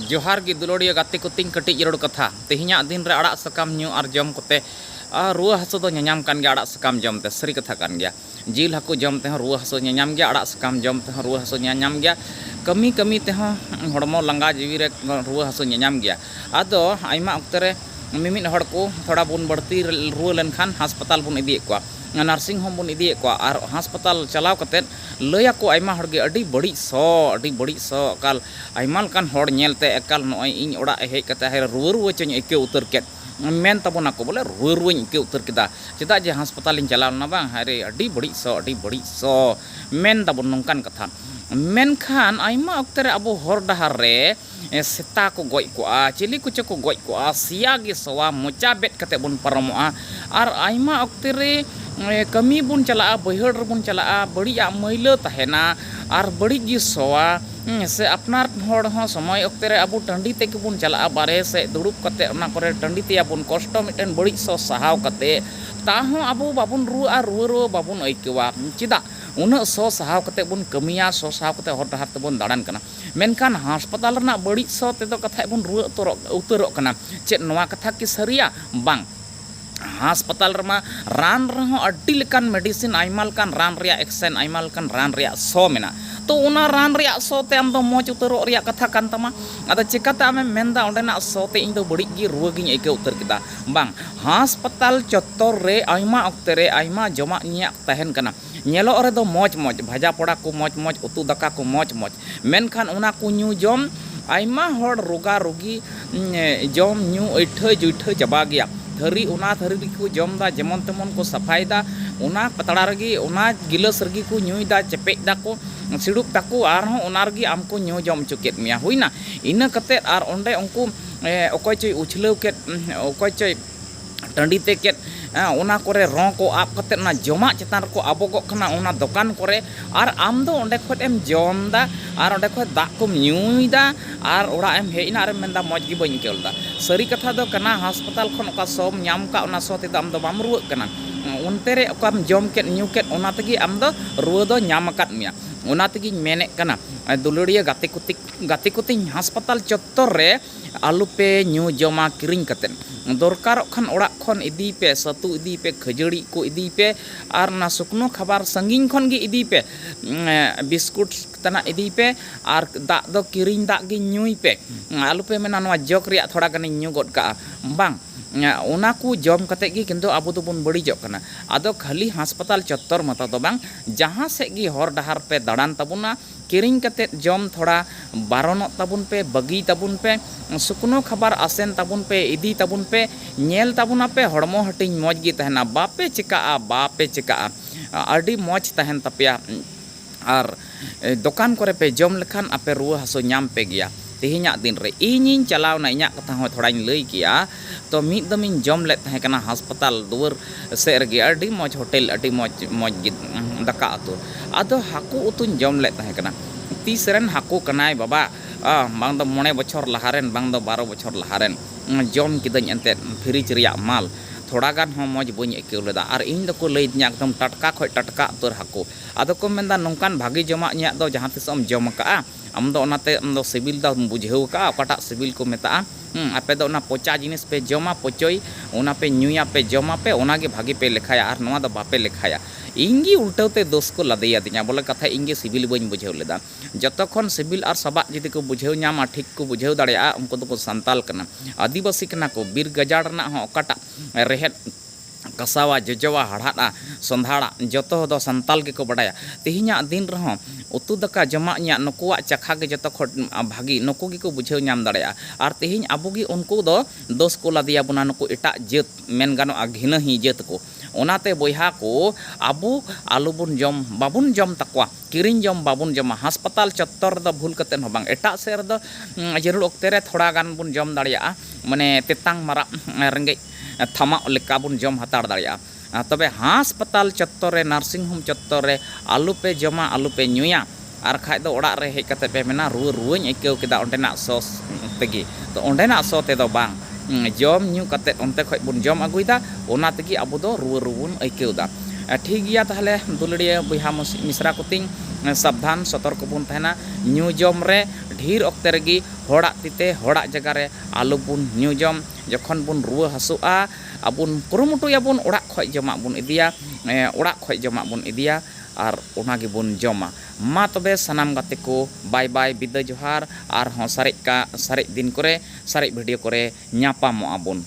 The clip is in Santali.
ᱡᱚᱦᱟᱨ ᱜᱮ ᱫᱩᱞᱟᱹᱲᱤᱭᱟᱹ ᱜᱟᱛᱮ ᱠᱚ ᱛᱤᱧ ᱠᱟᱹᱴᱤᱡ ᱨᱚᱲ ᱠᱟᱛᱷᱟ ᱛᱮᱦᱮᱧᱟᱜ ᱫᱤᱱ ᱨᱮ ᱟᱲᱟᱜ ᱥᱟᱠᱟᱢ ᱧᱩ ᱟᱨ ᱡᱚᱢ ᱠᱚᱛᱮ ᱨᱩᱣᱟᱹ ᱦᱟᱹᱥᱩ ᱫᱚ ᱧᱟᱧᱟᱢ ᱠᱟᱱ ᱜᱮᱭᱟ ᱟᱲᱟᱜ ᱥᱟᱠᱟᱢ ᱡᱚᱢ ᱛᱮ ᱥᱟᱹᱨᱤ ᱠᱟᱛᱷᱟ ᱠᱟᱱ ᱜᱮᱭᱟ ᱡᱤᱞ ᱦᱟᱹᱠᱩ ᱡᱚᱢ ᱛᱮᱦᱚᱸ ᱨᱩᱣᱟᱹ ᱦᱟᱹᱥᱩ ᱧᱟᱧᱟᱢ ᱜᱮᱭᱟ ᱟᱲᱟᱜ ᱥᱟᱠᱟᱢ ᱡᱚᱢ ᱛᱮᱦᱚᱸ ᱨᱩᱣᱟᱹ ᱦᱟᱹᱥᱩ ᱧᱟᱧᱟᱢ ᱜᱮᱭᱟ ᱠᱟᱹᱢᱤ ᱠᱟᱹᱢᱤ ᱛᱮᱦᱚᱸ ᱦᱚᱲᱢᱚ ᱞᱟᱸᱜᱟ ᱡᱤᱣᱤ ᱨᱮ ᱨᱩᱣᱟᱹ ᱦᱟᱹᱥᱩ ᱧᱟᱧᱟᱢ ᱜᱮᱭᱟ ᱟᱫᱚ ᱟᱭᱢᱟ ᱚᱠᱛᱮ ᱨᱮ ᱢᱤᱢᱤᱫ ᱦᱚᱲ ᱠᱚ ᱛᱷᱚᱲᱟ ᱵᱚᱱ ᱵᱟᱹᱲᱛᱤ ᱨᱩᱣᱟᱹ ᱞᱮᱱᱠᱷᱟᱱ ᱦᱟᱥᱯᱟᱛᱟᱞ ᱵᱚᱱ ᱤᱫᱤᱭᱮᱫ ᱠᱚᱣᱟ ᱱᱟᱨᱥᱤᱝ ᱦᱳᱢ ᱵᱚᱱ ᱤᱫᱤᱭᱮᱫ ᱠᱚᱣᱟ ᱟᱨ ᱦᱟᱥᱯᱟᱛᱟᱞ ᱪᱟᱞᱟᱣ ᱠᱟᱛᱮᱫ ᱞᱟᱹᱭ ᱟᱠᱚ ᱟᱭᱢᱟ ᱦᱚᱲ ᱜᱮ ᱟᱹᱰᱤ ᱵᱟᱹᱲᱤᱡ ᱥᱚ ᱟᱹᱰᱤ ᱵᱟᱹᱲᱤᱡ ᱥᱚ ᱮᱠᱟᱞ ᱟᱭᱢᱟ ᱞᱮᱠᱟᱱ ᱦᱚᱲ ᱧᱮᱞ ᱛᱮ ᱮᱠᱟᱞ ᱱᱚᱜᱼᱚᱭ ᱤᱧ ᱚᱲᱟᱜ ᱮ ᱦᱮᱡ ᱠᱟᱛᱮ ᱦᱟᱭᱨᱮ ᱨᱩᱣᱟᱹ ᱨᱩᱣᱟᱹ ᱪᱚᱧ ᱟᱹᱭᱠᱟᱹᱣ ᱩᱛᱟᱹᱨ ᱠᱮᱫ ᱢᱮᱱ ᱛᱟᱵᱚᱱᱟ ᱠᱚ ᱵᱚᱞᱮ ᱨᱩᱣᱟᱹ ᱨᱩᱣᱟᱹᱧ ᱟᱹᱭᱠᱟᱹᱣ ᱩᱛᱟᱹᱨ ᱠᱮᱫᱟ ᱪᱮᱫᱟᱜ ᱡᱮ ᱦᱟᱥᱯᱟᱛᱟᱞ ᱤᱧ ᱪᱟᱞᱟᱣ ᱞᱮᱱᱟ ᱵᱟᱝ ᱦᱟᱭᱨᱮ ᱟᱹᱰᱤ ᱵᱟᱹᱲᱤᱡ ᱥᱚ ᱟᱹᱰᱤ ᱵᱟᱹᱲᱤᱡ ᱥᱚ ᱢᱮᱱ ᱫᱟᱵᱚᱱ ᱱᱚᱝᱠᱟᱱ ᱠᱟᱛᱷᱟ ᱢᱮᱱᱠᱷᱟᱱ ᱟᱭᱢᱟ ᱚᱠᱛᱮ ᱨᱮ ᱟᱵᱚ ᱦᱚᱨ ᱰᱟᱦᱟᱨ ᱨᱮ ᱥᱮᱛᱟ ᱠᱚ ᱜᱚᱡ ᱠᱚᱜᱼᱟ, ᱪᱤᱞᱤ ᱠᱚᱪᱚ ᱠᱚ ᱜᱚᱡ ᱠᱚᱜᱼᱟ, ᱥᱮᱭᱟ ᱜᱮ ᱥᱚᱣᱟ, ᱢᱚᱪᱟ ᱵᱮᱫ ᱠᱟᱛᱮ ᱵᱚᱱ ᱯᱟᱨᱚᱢᱚᱜᱼᱟ᱾ ᱟᱨ ᱟᱭᱢᱟ ᱚᱠᱛᱮ ᱨᱮ ᱠᱟᱹᱢᱤ ᱵᱚᱱ ᱪᱟᱞᱟᱜᱼᱟ, ᱵᱟᱹᱭᱦᱟᱹᱲ ᱨᱮᱵᱚᱱ ᱪᱟᱞᱟᱜᱼᱟ, ᱵᱟᱹᱲᱤᱡ ᱟᱜ ᱢᱟᱹᱭᱞᱟᱹ ᱛᱟᱦᱮᱸᱱᱟ ᱟᱨ ᱵᱟᱹᱲᱤᱡ ᱜᱮ ᱥᱚᱣᱟ᱾ ᱥᱮ ᱟᱯᱱᱟᱨ ᱦᱚᱲ ᱦᱚᱸ ᱥᱚᱢᱚᱭ ᱚᱠᱛᱮ ᱨᱮ ᱟᱵᱚ ᱴᱟᱺᱰᱤ ᱛᱮᱜᱮ ᱵᱚᱱ ᱪᱟᱞᱟᱜᱼᱟ, ᱵᱟᱨᱦᱮ ᱥᱮᱫ ᱫᱩᱲᱩᱵ ᱠᱟᱛᱮ ᱚᱱᱟ ᱠᱚᱨᱮ ᱴᱟᱺᱰᱤ ᱛᱮᱭᱟ ᱵᱚᱱ ᱠᱚᱥᱴᱚ ᱢᱤᱫᱴᱮᱱ ᱵᱟᱹᱲᱤᱡ ᱥᱚ ᱥᱟᱦᱟᱣ ᱠᱟᱛᱮ ᱛᱟᱣ ᱦᱚᱸ ᱟᱵᱚ ᱵᱟᱵᱚᱱ ᱨᱩᱣᱟᱹᱜᱼᱟ, ᱨᱩᱣᱟᱹ ᱨᱩᱣᱟᱹ ᱵᱟᱵᱚᱱ ᱟᱹᱭᱠᱟᱹᱣᱟ᱾ ᱪᱮᱫᱟᱜ? ᱩᱱᱟᱹᱜ ᱥᱚ ᱥᱟᱦᱟᱣ ᱠᱟᱛᱮ ᱵᱚᱱ ᱠᱟᱹᱢᱤᱭᱟ, ᱥᱚ ᱥᱟᱦᱟᱣ ᱠᱟᱛᱮ ᱦᱚᱨ ᱰᱟᱦᱟᱨ ᱛᱮᱵᱚᱱ ᱫᱟᱬᱟᱱ ᱠᱟᱱᱟ᱾ ᱢᱮᱱᱠᱷᱟᱱ ᱦᱟᱥᱯᱟᱛᱟᱞ ᱨᱮᱱᱟᱜ ᱵᱟᱹᱲᱤᱡ ᱥᱚ ᱛᱮᱫᱚ ᱠᱟᱛᱷᱟᱡ ᱵᱚᱱ ᱨᱩᱣᱟᱹ ᱩᱛᱟᱹᱨᱚᱜ ᱩᱛᱟᱹᱨᱚᱜ ᱠᱟᱱᱟ᱾ ᱪᱮᱫ ᱱᱚᱣᱟ ᱠᱟᱛᱷᱟ ᱠᱤ ᱥᱟᱹᱨᱤᱭᱟ? ᱵᱟᱝ᱾ ᱦᱟᱥᱯᱟᱛᱟᱞ ᱨᱮᱢᱟ ᱨᱟᱱ ᱨᱮᱦᱚᱸ ᱟᱹᱰᱤ ᱞᱮᱠᱟᱱ ᱢᱮᱰᱤᱥᱤᱱ, ᱟᱭᱢᱟ ᱞᱮᱠᱟᱱ ᱨᱟᱱ ᱨᱮᱭᱟᱜ ᱮᱠᱥᱮᱱ, ᱟᱭᱢᱟ ᱞᱮᱠᱟᱱ ᱨᱟᱱ ᱨᱮᱭᱟᱜ ᱥᱚ ᱢᱮᱱᱟᱜᱼᱟ᱾ ᱛᱚ ᱚᱱᱟ ᱨᱟᱱ ᱨᱮᱭᱟᱜ ᱥᱚ ᱛᱮ ᱟᱢ ᱫᱚ ᱢᱚᱡᱽ ᱩᱛᱟᱹᱨᱚᱜ ᱨᱮᱭᱟᱜ ᱠᱟᱛᱷᱟ ᱠᱟᱱ ᱛᱟᱢᱟ᱾ ᱟᱫᱚ ᱪᱮᱠᱟᱛᱮ ᱟᱢᱮᱢ ᱢᱮᱱ ᱮᱫᱟ ᱚᱸᱰᱮᱱᱟᱜ ᱥᱚ ᱛᱮ ᱤᱧ ᱫᱚ ᱵᱟᱹᱲᱤᱡ ᱜᱮ ᱨᱩᱣᱟᱹ ᱜᱮᱧ ᱟᱹᱭᱠᱟᱹᱣ ᱩᱛᱟᱹᱨ ᱠᱮᱫᱟ? ᱵᱟᱝ᱾ ᱦᱟᱥᱯᱟᱛᱟᱞ ᱪᱚᱛᱛᱚᱨ ᱨᱮ ᱟᱭᱢᱟ ᱚᱠᱛᱮ ᱨᱮ ᱟᱭᱢᱟ ᱡᱚᱢᱟᱜ ᱧᱩᱭᱟᱜ ᱛᱟᱦᱮᱱ ᱠᱟᱱᱟ᱾ ᱧᱮᱞᱚᱜ ᱨᱮᱫᱚ ᱢᱚᱡᱽ ᱢᱚᱡᱽ ᱵᱷᱟᱡᱟ ᱯᱚᱲᱟ ᱠᱚ ᱢᱚᱡᱽ ᱢᱚᱡᱽ ᱩᱛᱩ ᱫᱟᱠᱟ ᱠᱚ ᱢᱚᱡᱽ ᱢᱚᱡᱽ ᱢᱮᱱᱠᱷᱟᱱ ᱚᱱᱟ ᱠᱚ ᱧᱩ ᱡᱚᱢ ᱟᱭᱢᱟ ᱦᱚᱲ ᱨᱳᱜᱟ ᱨᱩᱜᱤ ᱡᱚᱢ ᱧᱩ ᱟᱹᱭᱴᱷᱟᱹ ᱡᱩᱭᱴᱷᱟᱹ ᱪᱟᱵᱟ ᱜᱮᱭᱟ ᱛᱷᱟᱹᱨᱤ ᱚᱱᱟ ᱛᱷᱟᱹᱨᱤ ᱨᱮᱜᱮ ᱠᱚ ᱡᱚᱢ ᱮᱫᱟ ᱡᱮᱢᱚᱱ ᱛᱮᱢᱚᱱ ᱠᱚ ᱥᱟᱯᱷᱟᱭᱮᱫᱟ ᱚᱱᱟ ᱯᱟᱛᱲᱟ ᱨᱮᱜᱮ ᱚᱱᱟ ᱜᱤᱞᱟᱹᱥ ᱨᱮᱜᱮ ᱠᱚ ᱧᱩᱭᱮᱫᱟ ᱪᱮᱯᱮᱡ ᱮᱫᱟᱠᱚ ᱥᱤᱲᱩᱯ ᱮᱫᱟᱠᱚ ᱟᱨᱦᱚᱸ ᱚᱱᱟ ᱨᱮᱜᱮ ᱟᱢ ᱠᱚ ᱧᱩ ᱡᱚᱢ ᱦᱚᱪᱚ ᱠᱮᱫ ᱢᱮᱭᱟ ᱦᱩᱭᱱᱟ ᱤᱱᱟᱹ ᱠᱟᱛᱮᱫ ᱟᱨ ᱚᱸᱰᱮ ᱩᱱᱠᱩ ᱚᱠᱚᱭ ᱪᱚᱭ ᱩᱪᱷᱞᱟᱹᱣ ᱠᱮᱫ ᱚᱠᱚᱭ ᱪᱚᱭ ᱴᱟᱺᱰᱤ ᱛᱮ ᱪᱮᱫ ᱚᱱᱟ ᱠᱚᱨᱮ ᱨᱚᱸ ᱠᱚ ᱟᱵ ᱠᱟᱛᱮ ᱚᱱᱟ ᱡᱚᱢᱟᱜ ᱪᱮᱛᱟᱱ ᱨᱮᱠᱚ ᱟᱵᱚᱜᱚᱜ ᱠᱟᱱᱟ ᱚᱱᱟ ᱫᱚᱠᱟᱱ ᱠᱚᱨᱮ ᱟᱨ ᱟᱢ ᱫᱚ ᱚᱸᱰᱮ ᱠᱷᱚᱡ ᱮᱢ ᱡᱚᱢ ᱮᱫᱟ ᱟᱨ ᱚᱸᱰᱮ ᱠᱷᱚᱡ ᱫᱟᱜ ᱠᱚᱢ ᱧᱩᱭᱮᱫᱟ ᱟᱨ ᱚᱲᱟᱜ ᱮᱢ ᱦᱮᱡ ᱮᱱᱟ ᱟᱨᱮᱢ ᱢᱮᱱᱫᱟ ᱢᱚᱡᱽ ᱜᱮ ᱵᱟᱹᱧ ᱟᱹᱭᱠᱟᱹᱣ ᱞᱮᱫᱟ ᱥᱟᱹᱨᱤ ᱠᱟᱛᱷᱟ ᱫᱚ ᱠᱟᱱᱟ ᱦᱟᱥᱯᱟᱛᱟᱞ ᱠᱷᱚᱱ ᱚᱠᱟ ᱥᱚᱢ ᱧᱟᱢ ᱠᱟᱜ ᱚᱱᱟ ᱥᱚ ᱛᱮᱫᱚ ᱟᱢ ᱫᱚ ᱵᱟᱢ ᱨᱩᱣᱟᱹᱜ ᱠᱟᱱᱟ ᱚᱱᱛᱮ ᱨᱮ ᱚᱠᱟᱢ ᱡᱚᱢ ᱠᱮᱫ ᱧᱩ ᱠᱮᱫ ᱚᱱᱟ ᱛᱮᱜᱮ ᱟᱢ ᱫᱚ ᱨᱩᱣᱟᱹ ᱫᱚ ᱧᱟᱢ ᱟᱠᱟᱫ ᱢᱮᱭᱟ ᱚᱱᱟ ᱛᱮᱜᱮᱧ ᱢᱮᱱᱮᱫ ᱠᱟᱱᱟ ᱫᱩᱞᱟᱹᱲᱤᱭᱟᱹ ᱜᱟᱛᱮ ᱠᱚᱛᱮ ᱜᱟᱛᱮ ᱠᱚᱛᱤᱧ ᱦᱟᱥᱯᱟᱛᱟᱞ ᱪᱚᱛᱛᱚᱨ ᱨᱮ ᱟᱞᱚ ᱯᱮ ᱧᱩ ᱡᱚᱢᱟ ᱠᱤᱨᱤᱧ ᱠᱟᱛᱮ᱾ ᱫᱚᱨᱠᱟᱨᱚᱜ ᱠᱷᱟᱱ ᱚᱲᱟᱜ ᱠᱷᱚᱱ ᱤᱫᱤᱭ ᱯᱮ, ᱥᱟᱹᱛᱩ ᱤᱫᱤᱭ ᱯᱮ, ᱠᱷᱟᱹᱡᱟᱹᱲᱤ ᱠᱚ ᱤᱫᱤᱭ ᱯᱮ ᱟᱨ ᱚᱱᱟ ᱥᱩᱠᱱᱳ ᱠᱷᱟᱵᱟᱨ ᱥᱟᱺᱜᱤᱧ ᱠᱷᱚᱱ ᱜᱮ ᱤᱫᱤᱭ ᱯᱮ᱾ ᱵᱤᱥᱠᱩᱴ ᱛᱟᱱᱟᱜ ᱤᱫᱤᱭ ᱯᱮ ᱟᱨ ᱫᱟᱜ ᱫᱚ ᱠᱤᱨᱤᱧ ᱫᱟᱜ ᱜᱮ ᱧᱩᱭ ᱯᱮ᱾ ᱟᱞᱚ ᱯᱮ ᱢᱮᱱᱟ ᱱᱚᱣᱟ ᱡᱚᱜᱽ ᱨᱮᱭᱟᱜ ᱛᱷᱚᱲᱟ ᱜᱟᱱᱤᱧ ᱧᱩ ᱜᱚᱫ ᱠᱟᱜᱼᱟ᱾ ᱵᱟᱝ, ᱚᱱᱟ ᱠᱚ ᱡᱚᱢ ᱠᱟᱛᱮ ᱜᱮ ᱠᱤᱱᱛᱩ ᱟᱵᱚ ᱫᱚ ᱵᱚᱱ ᱵᱟᱹᱲᱤᱡᱚᱜ ᱠᱟᱱᱟ᱾ ᱟᱫᱚ ᱠᱷᱟᱹᱞᱤ ᱦᱟᱥᱯᱟᱛᱟᱞ ᱪᱚᱛᱛᱚᱨ ᱢᱚᱛᱚ ᱫᱚ ᱵᱟᱝ, ᱡᱟᱦᱟᱸ ᱥᱮᱫ ᱜᱮ ᱦᱚᱨ ᱰᱟᱦᱟᱨ ᱯᱮ ᱫᱟᱬᱟᱱ ᱛᱟᱵᱚᱱᱟ, ᱠᱤᱨᱤᱧ ᱠᱟᱛᱮ ᱡᱚᱢ ᱛᱷᱚᱲᱟ ᱵᱟᱨᱚᱱᱚᱜ ᱛᱟᱵᱚᱱ ᱯᱮ, ᱵᱟᱹᱜᱤᱭ ᱛᱟᱵᱚᱱ ᱯᱮ᱾ ᱥᱩᱠᱱᱳ ᱠᱷᱟᱵᱟᱨ ᱟᱥᱮᱱ ᱛᱟᱵᱚᱱ ᱯᱮ, ᱤᱫᱤᱭ ᱛᱟᱵᱚᱱ ᱯᱮ᱾ ᱧᱮᱞ ᱛᱟᱵᱚᱱᱟ ᱯᱮ ᱦᱚᱲᱢᱚ ᱦᱟᱹᱴᱤᱧ ᱢᱚᱡᱽ ᱜᱮ ᱛᱟᱦᱮᱱᱟ᱾ ᱵᱟᱯᱮ ᱪᱮᱠᱟᱜᱼᱟ, ᱵᱟᱯᱮ ᱪᱮᱠᱟᱜᱼᱟ᱾ ᱟᱹᱰᱤ ᱢᱚᱡᱽ ᱛᱟᱦᱮᱱ ᱛᱟᱯᱮᱭᱟ᱾ ᱟᱨ ᱫᱚᱠᱟᱱ ᱠᱚᱨᱮ ᱯᱮ ᱡᱚᱢ ᱞᱮᱠᱷᱟᱱ ᱟᱯᱮ ᱨᱩᱣᱟᱹ ᱦᱟᱹᱥᱩ ᱧᱟᱢ ᱯᱮ ᱜᱮᱭᱟ᱾ ᱛᱮᱦᱮᱧᱟᱜ ᱫᱤᱱ ᱨᱮ ᱤᱧᱤᱧ ᱪᱟᱞᱟᱣ ᱮᱱᱟ ᱤᱧᱟᱜ ᱠᱟᱛᱷᱟ ᱦᱚᱸ ᱛᱷᱚᱲᱟᱧ ᱞᱟᱹᱭ ᱠᱮᱜᱼᱟ ᱛᱚ ᱢᱤᱫ ᱫᱚᱢ ᱤᱧ ᱡᱚᱢ ᱞᱮᱫ ᱛᱟᱦᱮᱸ ᱠᱟᱱᱟ ᱦᱟᱥᱯᱟᱛᱟᱞ ᱫᱩᱣᱟᱹᱨ ᱥᱮᱫ ᱨᱮᱜᱮ ᱟᱹᱰᱤ ᱢᱚᱡᱽ ᱦᱳᱴᱮᱞ ᱟᱹᱰᱤ ᱢᱚᱡᱽ ᱢᱚᱡᱽ ᱜᱮ ᱫᱟᱠᱟ ᱩᱛᱩ ᱟᱫᱚ ᱦᱟᱹᱠᱩ ᱩᱛᱩᱧ ᱡᱚᱢ ᱞᱮᱫ ᱛᱟᱦᱮᱸ ᱠᱟᱱᱟ ᱛᱤᱥ ᱨᱮᱱ ᱦᱟᱹᱠᱩ ᱠᱟᱱᱟᱭ ᱵᱟᱵᱟ ᱵᱟᱝ ᱫᱚ ᱢᱚᱬᱮ ᱵᱚᱪᱷᱚᱨ ᱞᱟᱦᱟ ᱨᱮᱱ ᱵᱟᱝ ᱫᱚ ᱵᱟᱨᱚ ᱵᱚᱪᱷᱚᱨ ᱞᱟᱦᱟ ᱨᱮᱱ ᱡᱚᱢ ᱠᱤᱫᱟᱹᱧ ᱮᱱᱛᱮᱫ ᱯᱷᱤᱨᱤᱡᱽ ᱨᱮᱭᱟᱜ ᱢᱟᱞ ᱛᱷᱚᱲᱟ ᱜᱟᱱ ᱦᱚᱸ ᱢᱚᱡᱽ ᱵᱟᱹᱧ ᱟᱹᱭᱠᱟᱹᱣ ᱞᱮᱫᱟ ᱟᱨ ᱤᱧ ᱫᱚᱠᱚ ᱞᱟᱹᱭ ᱟᱹᱫᱤᱧᱟ ᱮᱠᱫᱚᱢ ᱴᱟᱴᱠᱟ ᱠᱷᱚᱱ ᱴᱟᱴᱠᱟ ᱩᱛᱟᱹᱨ ᱦᱟᱹᱠᱩ ᱟᱫᱚ ᱠᱚ ᱢᱮᱱ ᱮᱫᱟ ᱱᱚᱝᱠᱟᱱ ᱵᱷᱟᱹᱜᱤ ᱡᱚᱢᱟᱜ ᱧᱩᱣᱟᱜ ᱫᱚ ᱡᱟᱦᱟᱸ ᱛᱤᱥᱚᱜ ᱮᱢ ᱡᱚᱢ ᱟᱠᱟᱫᱼᱟ ᱟᱢ ᱫᱚ ᱚᱱᱟᱛᱮ ᱟᱢ ᱫᱚ ᱥᱤᱵᱤᱞ ᱫᱚᱢ ᱵᱩᱡᱷᱟᱹᱣ ᱟᱠᱟᱫᱼᱟ ᱚᱠᱟᱴᱟᱜ ᱥᱤᱵᱤᱞ ᱠᱚ ᱢᱮᱛᱟᱜᱼᱟ ᱦᱩᱸ ᱟᱯᱮ ᱫᱚ ᱚᱱᱟ ᱯᱚᱪᱟ ᱡᱤᱱᱤᱥ ᱯᱮ ᱡᱚᱢᱟ ᱯᱚᱪᱚᱭ ᱚᱱᱟ ᱯᱮ ᱧᱩᱭᱟ ᱯᱮ ᱡᱚᱢᱟ ᱯᱮ ᱚᱱᱟ ᱜᱮ ᱵᱷᱟᱹᱜᱤ ᱯᱮ ᱞᱮᱠᱷᱟᱭᱟ ᱟᱨ ᱱᱚᱣᱟ ᱫᱚ ᱵᱟᱯᱮ ᱞᱮᱠᱷᱟᱭᱟ ᱤᱧ ᱜᱮ ᱩᱞᱴᱟᱹᱣ ᱛᱮ ᱫᱳᱥ ᱠᱚ ᱞᱟᱫᱮ ᱟᱹᱫᱤᱧᱟ ᱵᱚᱞᱮ ᱠᱟᱛᱷᱟ ᱤᱧ ᱜᱮ ᱥᱤᱵᱤᱞ ᱵᱟᱹᱧ ᱵᱩᱡᱷᱟᱹᱣ ᱞᱮᱫᱟ ᱡᱚᱛᱚ ᱠᱷᱚᱱ ᱥᱤᱵᱤᱞ ᱟᱨ ᱥᱟᱵᱟᱜ ᱡᱩᱫᱤ ᱠᱚ ᱵᱩᱡᱷᱟᱹᱣ ᱧᱟᱢᱟ ᱴᱷᱤᱠ ᱠᱚ ᱵᱩᱡᱷᱟᱹᱣ ᱫᱟᱲᱮᱭᱟᱜᱼᱟ ᱩᱱᱠᱩ ᱫᱚ ᱠᱚ ᱥᱟᱱᱛᱟᱞ ᱠᱟᱱᱟ ᱟᱹᱫᱤᱵᱟᱹᱥᱤ ᱠᱟᱱᱟ ᱠᱚ ᱵᱤᱨ ᱜᱟᱡᱟᱲ ᱨᱮᱱᱟᱜ ᱦᱚᱸ ᱚᱠᱟᱴᱟᱜ ᱨᱮᱦᱮᱫ ᱠᱟᱥᱟᱣᱟ, ᱡᱚᱡᱚᱣᱟ, ᱦᱟᱲᱦᱟᱫᱼᱟ, ᱥᱚᱸᱫᱷᱟᱲᱼᱟ ᱡᱚᱛᱚ ᱫᱚ ᱥᱟᱱᱛᱟᱞ ᱜᱮᱠᱚ ᱵᱟᱰᱟᱭᱟ᱾ ᱛᱤᱦᱤᱧᱟᱜ ᱫᱤᱱ ᱨᱮᱦᱚᱸ ᱩᱛᱩ ᱫᱟᱠᱟ ᱡᱚᱢᱟᱜ ᱧᱩᱣᱟᱜ ᱱᱩᱠᱩᱣᱟᱜ ᱪᱟᱠᱷᱟ ᱜᱮ ᱡᱚᱛᱚ ᱠᱷᱚᱱ ᱵᱷᱟᱹᱜᱤ ᱱᱩᱠᱩ ᱜᱮᱠᱚ ᱵᱩᱡᱷᱟᱹᱣ ᱧᱟᱢ ᱫᱟᱲᱮᱭᱟᱜᱼᱟ᱾ ᱟᱨ ᱛᱤᱦᱤᱧ ᱟᱵᱚ ᱜᱮ ᱩᱱᱠᱩ ᱫᱚ ᱫᱳᱥ ᱠᱚ ᱞᱟᱫᱮᱭᱟ ᱵᱚᱱᱟ ᱱᱩᱠᱩ ᱮᱴᱟᱜ ᱡᱟᱹᱛ ᱢᱮᱱ ᱜᱟᱱᱚᱜᱼᱟ ᱜᱷᱤᱱᱟᱹ ᱦᱤ ᱡᱟᱹᱛ ᱠᱚ᱾ ᱚᱱᱟᱛᱮ ᱵᱚᱭᱦᱟ ᱠᱚ ᱟᱵᱚ ᱟᱞᱚ ᱵᱚᱱ ᱡᱚᱢ ᱵᱟᱵᱚᱱ ᱡᱚᱢ ᱛᱟᱠᱚᱣᱟ ᱠᱤᱨᱤᱧ ᱡᱚᱢ ᱵᱟᱵᱚᱱ ᱡᱚᱢᱟ ᱦᱟᱥᱯᱟᱛᱟᱞ ᱪᱚᱛᱛᱚᱨ ᱨᱮᱫᱚ ᱵᱷᱩᱞ ᱠᱟᱛᱮ ᱦᱚᱸ ᱵᱟᱝ ᱮᱴᱟᱜ ᱥᱮᱫ ᱨᱮᱫᱚ ᱡᱟᱹᱨᱩᱲ ᱚᱠᱛᱮ ᱨᱮ ᱛᱷᱚᱲᱟ ᱜᱟᱱ ᱵᱚᱱ ᱡᱚᱢ ᱫᱟᱲᱮᱭᱟᱜᱼᱟ ᱢᱟᱱᱮ ᱛᱮᱛᱟᱝ ᱢᱟᱨᱟᱜ ᱨᱮᱸᱜᱮᱡ ᱛᱷᱟᱢᱟᱜ ᱞᱮᱠᱟ ᱵᱚᱱ ᱡᱚᱢ ᱦᱟᱛᱟᱲ ᱫᱟᱲᱮᱭᱟᱜᱼᱟ᱾ ᱛᱚᱵᱮ ᱦᱟᱥᱯᱟᱛᱟᱞ ᱪᱚᱛᱛᱚᱨ ᱨᱮ, ᱱᱟᱨᱥᱤᱝ ᱦᱳᱢ ᱪᱚᱛᱛᱚᱨ ᱨᱮ ᱟᱞᱚ ᱯᱮ ᱡᱚᱢᱟ, ᱟᱞᱚ ᱯᱮ ᱧᱩᱭᱟ᱾ ᱟᱨ ᱠᱷᱟᱡ ᱫᱚ ᱚᱲᱟᱜ ᱨᱮ ᱦᱮᱡ ᱠᱟᱛᱮ ᱯᱮ ᱢᱮᱱᱟ ᱨᱩᱣᱟᱹ ᱨᱩᱣᱟᱹᱧ ᱟᱹᱭᱠᱟᱹᱣ ᱠᱮᱫᱟ ᱚᱸᱰᱮᱱᱟᱜ ᱥᱚ ᱛᱮᱜᱮ᱾ ᱛᱚ ᱚᱸᱰᱮᱱᱟᱜ ᱥᱚ ᱛᱮᱫᱚ ᱵᱟᱝ, ᱡᱚᱢ ᱧᱩ ᱠᱟᱛᱮ ᱚᱱᱛᱮ ᱠᱷᱚᱡ ᱵᱚᱱ ᱡᱚᱢ ᱟᱹᱜᱩᱭᱮᱫᱟ, ᱚᱱᱟ ᱛᱮᱜᱮ ᱟᱵᱚ ᱫᱚ ᱨᱩᱣᱟᱹ ᱨᱩᱣᱟᱹ ᱵᱚᱱ ᱟᱹᱭᱠᱟᱹᱣ ᱮᱫᱟ᱾ ᱴᱷᱤᱠ ᱜᱮᱭᱟ ᱛᱟᱦᱚᱞᱮ ᱫᱩᱞᱟᱹᱲᱤᱭᱟᱹ ᱵᱚᱭᱦᱟ ᱢᱤᱥᱨᱟ ᱠᱚ ᱛᱤᱧ, ᱥᱟᱵᱫᱷᱟᱱ ᱥᱚᱛᱚᱨᱠᱚ ᱵᱚᱱ ᱛᱟᱦᱮᱱᱟ᱾ ᱧᱩ ᱡᱚᱢ ᱨᱮ ᱰᱷᱤᱨ ᱚᱠᱛᱮ ᱨᱮᱜᱮ ᱦᱚᱲᱟᱜ ᱛᱤᱛᱮ, ᱦᱚᱲᱟᱜ ᱡᱟᱭᱜᱟ ᱨᱮ ᱟᱞᱚ ᱵᱚᱱ ᱧᱩ ᱡᱚᱢ᱾ ᱡᱚᱠᱷᱚᱱ ᱵᱚᱱ ᱨᱩᱣᱟᱹ ᱦᱟᱹᱥᱩᱜᱼᱟ ᱟᱵᱚᱱ ᱠᱩᱨᱩᱢᱩᱴᱩᱭᱟᱵᱚᱱ ᱚᱲᱟᱜ ᱠᱷᱚᱱ ᱡᱚᱢᱟᱜ ᱵᱚᱱ ᱤᱫᱤᱭᱟ ᱚᱲᱟᱜ ᱠᱷᱚᱱ ᱡᱚᱢᱟᱜ ᱵᱚᱱ ᱤᱫᱤᱭᱟ ᱟᱨ ᱚᱱᱟ ᱜᱮᱵᱚᱱ ᱡᱚᱢᱟ ᱢᱟ ᱛᱚᱵᱮ ᱥᱟᱱᱟᱢ ᱜᱟᱛᱮ ᱠᱚ ᱵᱟᱭ ᱵᱟᱭ ᱵᱤᱫᱟᱹ ᱡᱚᱦᱟᱨ ᱟᱨᱦᱚᱸ ᱥᱟᱨᱮᱡ ᱠᱟᱜ ᱥᱟᱨᱮᱡ ᱫᱤᱱ ᱠᱚᱨᱮ ᱥᱟᱨᱮᱡ ᱵᱷᱤᱰᱤᱭᱳ ᱠᱚᱨᱮ ᱧᱟᱯᱟᱢᱚᱜᱼᱟ ᱵᱚᱱ᱾